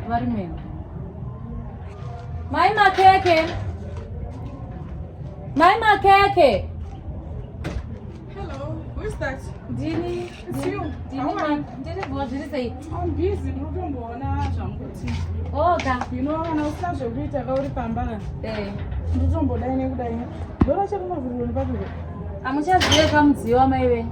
vari mwenga mai makeke mai makeke ndini ndiri bho zviri sei oka kana usina zvekuita ka uri pamba eh. nditombodai nekudai ndorachekumaviriro nepapiro amuchazive kamudziyo wamai venyu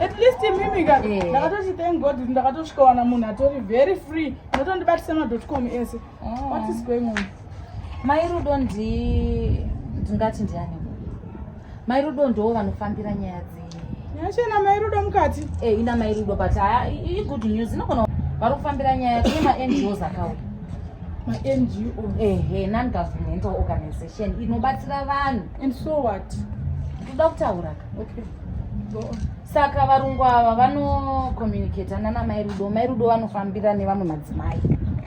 at least imimi ka eh. ndakatoti thank god kuti ndakatosvikawana munhu atori very free unotondibatisa madotcom ese oh. what is going on mai rudo ndingati ndiani mai rudo ndoo vanofambira nyaya dzii nyaya chena mai rudo mukati e ina mai rudo but haa igood news inogona vari kufambira nyaya kune mangos akauya mango ehe nongovernmental organization inobatsira vanhu and so what toda kutaura ka okay saka varungu ava vanocommunicata nana mai rudo mai rudo vanofambira nevamwe madzimai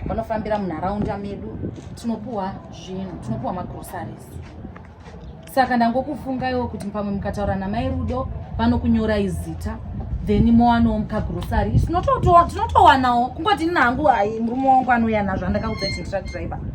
vanofambira munharaunda medu tinopuhwa zvinhu tinopuhwa magrosaries saka ndangokufungaiwo kuti pamwe mukataura namai rudo vanokunyora izita then mowanawo mukagrosary tinototowa tinotowanawo kungoti nina hangu hai murume wangu anouya nazvo andakaudza kuti ndira driver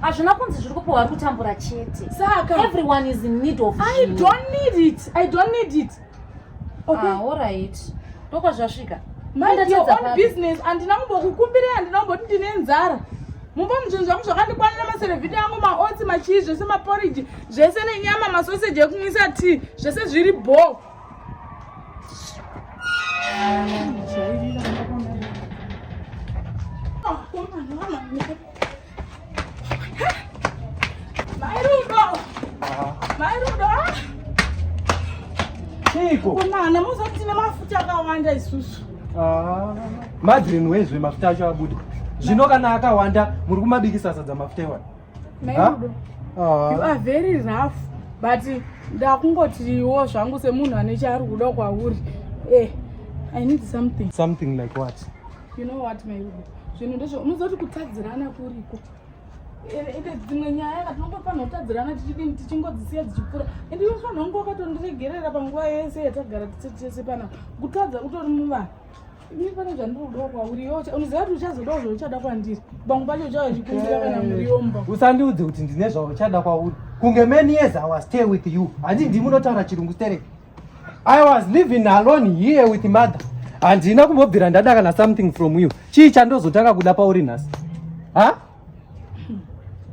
hazvina kunzi zviri kupiwa ari kutambura chete saka everyone is in need of i don't need it i don't need it okay. ah, all right ndokwazvasvika mind your own business andina kumbokukumbirei andina kumboti ndine nzara mumba muzvinhu zvangu zvakandikwanira maserevhiti angu maotsi machii zvese maporiji zvese nenyama masoseji ekumwisa tii zvese zviri bho Chiiko? Komana muzoti tine mafuta akawanda isusu. Ah. Madrin wezve mafuta acho abuda. Zvino kana akawanda muri kumabikisa sadza mafuta iwana. Mairudo. Ah. You are very rough but ndakungotiwo zvangu semunhu ane chaari kuda kwauri. Eh. I need something. Something like what? You know what, Mairudo? zvinhu ndizvo unozoti kutadzirana kuriko ende dzimwe nyaya ka tinongofanira kutadzirana tichidini tichingodzisiya dzichipfuura ende iwe fanira kunge wakatondiregerera panguva yese yatagara tise tese pana kutadza utori muvanhu ini pane zvandiri kudawo kwauri iwe unoziva kuti uchazodawo zvauchada kwandiri pamwe pacho uchava chikumbira kana muriomba usandiudze kuti ndine zvauchada kwauri kunge many years i was stay with you handi ndimi unotaura chirungu stereki I was living alone here with mother. Handina kumbobvira ndada kana something from you. Chii chandozotanga kuda pauri nhasi? Ha?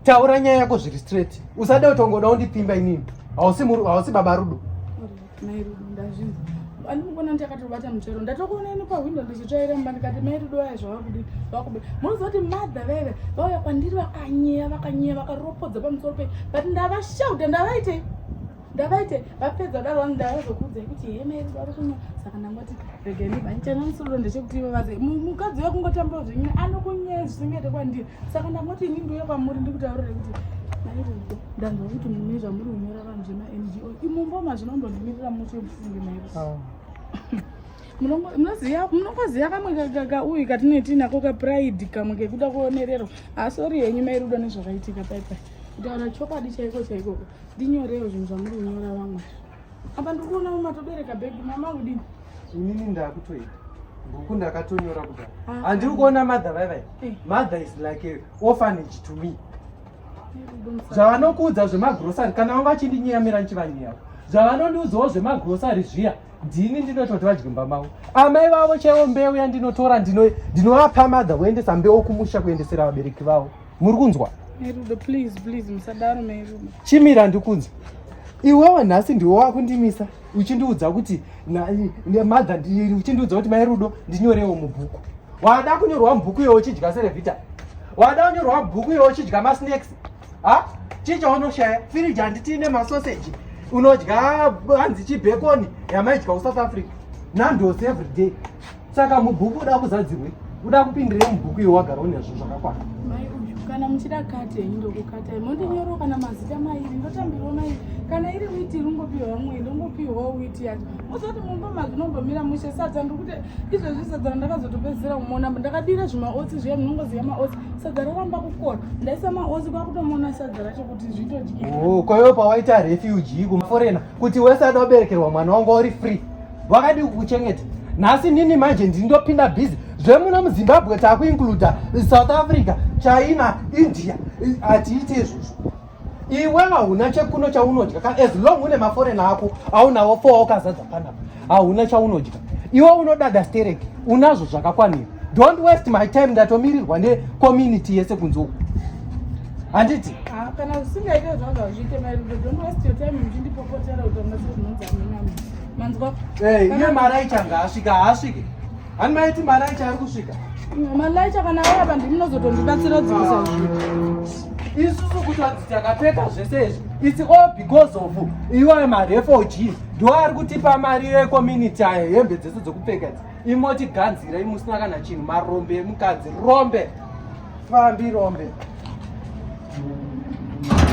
Taura nyaya yako zviri straight. Usade utongoda undipimba inini. Hausi muri hausi baba Rudo. Mai Rudo ndazvinzi. Ani mukona ndi akatobata mutero. Ndatokuona ino pa window ndichitsvaira mumba ndikati mai Rudo aya zvavakudi. Vakuba. Munoziva kuti mother veve vauya kwandiri vakanyeya vakanyeya vakaropodza pamusoro pe. But ndavashauta ndavaitei? ndavaite vapedza daro vangu ndavazokuudzai kuti hemeri vari kuno saka ndangoti regai ndibanichana musoro ndechekuti ivo vaze mukadzi wekungotambura zvenyina anokunyaya zvisingaite kwandiri saka ndangoti ini ndiuya kwamuri ndikutaurire kuti mairiko ndanzwa kuti mune zvamuri kunyora vanhu zvemaNGO imumbo mazvinombondimirira muti wemufunge mairi ah. munongoziva kamwe kauyu katinoiti nako kapride kamwe kekuda kuonererwa asori ah, henyu mairudo nezvakaitika paipai kutaura chokwadi chaiko chaikoko ndinyorewo zvinhu zvamuri kunyora vamwe apa ndiri kuona mumatobereka bhebhi mama kudini inini ndakutoita bhuku ndakatonyora kudai ah, handiri ah. kuona mother vaivai eh. mother is like a orphanage to me zvavanokuudza zvemagrosari kana vanga vachindinyeyamira ndichivanyeyawo zvavanondiudzawo zvemagrosari zviya ndini ndinototi vadye mumba mavo amai vavo chaivo mbeu yandinotora ndinovapa madha voendesa mbeu kumusha kuendesera vabereki vavo muri kunzwa merudo please please musadaro merudo chimira ndikunzwa iwewe nhasi ndiwe wakundimisa uchindiudza kuti madha uchindiudza kuti mai rudo ndinyorewo mubhuku wada kunyorwa mubhuku iyoyo uchidya serevita wada kunyorwa mubhuku iyoyo uchidya masnacks ha chii chaunoshaya firiji handiti ine masoseji unodya hanzi chibhekoni yamaidya kusouth africa nandosi every day saka mubhuku uda kuzadzirwe uda kupindirei mubhuku iwe wagara une zvinhu zvakakwana kana muchida kate ndokukatai mondinyorwa kana mazita mairi ndotambirwa mairi kana iri witi ringopiwa mwe ndongopiwa witi yacho mozoti mumba mazvinombomira mushe sadza ndikuti izvezvi sadza randakazotopedzisira kumona ndakadira zvimaotsi zviya munongoziva maotsi sadza roramba kukora ndaisa maozi kwakutomona sadza racho kuti zvitodyoo kwa iwe pawaita refuge kumaforena kuti wese ada kuberekerwa mwana wanga uri free wakadii kukuchengeta nhasi nini manje ndindopinda busy zvemuno muzimbabwe takuincluda south africa china india hatiite izvozvo iwe hauna chekuno chaunodya ka as long une maforena ako aunawo four wakazadza panapa hauna chaunodya iwe unodada stereki unazvo zvakakwanira don't waste my time ndatomirirwa necommunity yese kunze uku handiti ah, kana zvisingaite zvanga zviite mairido don't waste your time muchindipopotera kuti amase zvinonzi amina manzwa iye mari aichanga asvika haasvike Ani maiti malaicha ari kusvika. Mm, malaicha kana auya vanhu ndinozotondibatsira kudzikisa zvinhu. isusu kuti vanzi takapfeka zvese izvi its all because of iwayo marefugees ndo ari kutipa mari yecommunity ayo hembe dzese dzokupfeka dzi imotiganzira imusina kana chinhu marombe emukadzi rombe fambi rombe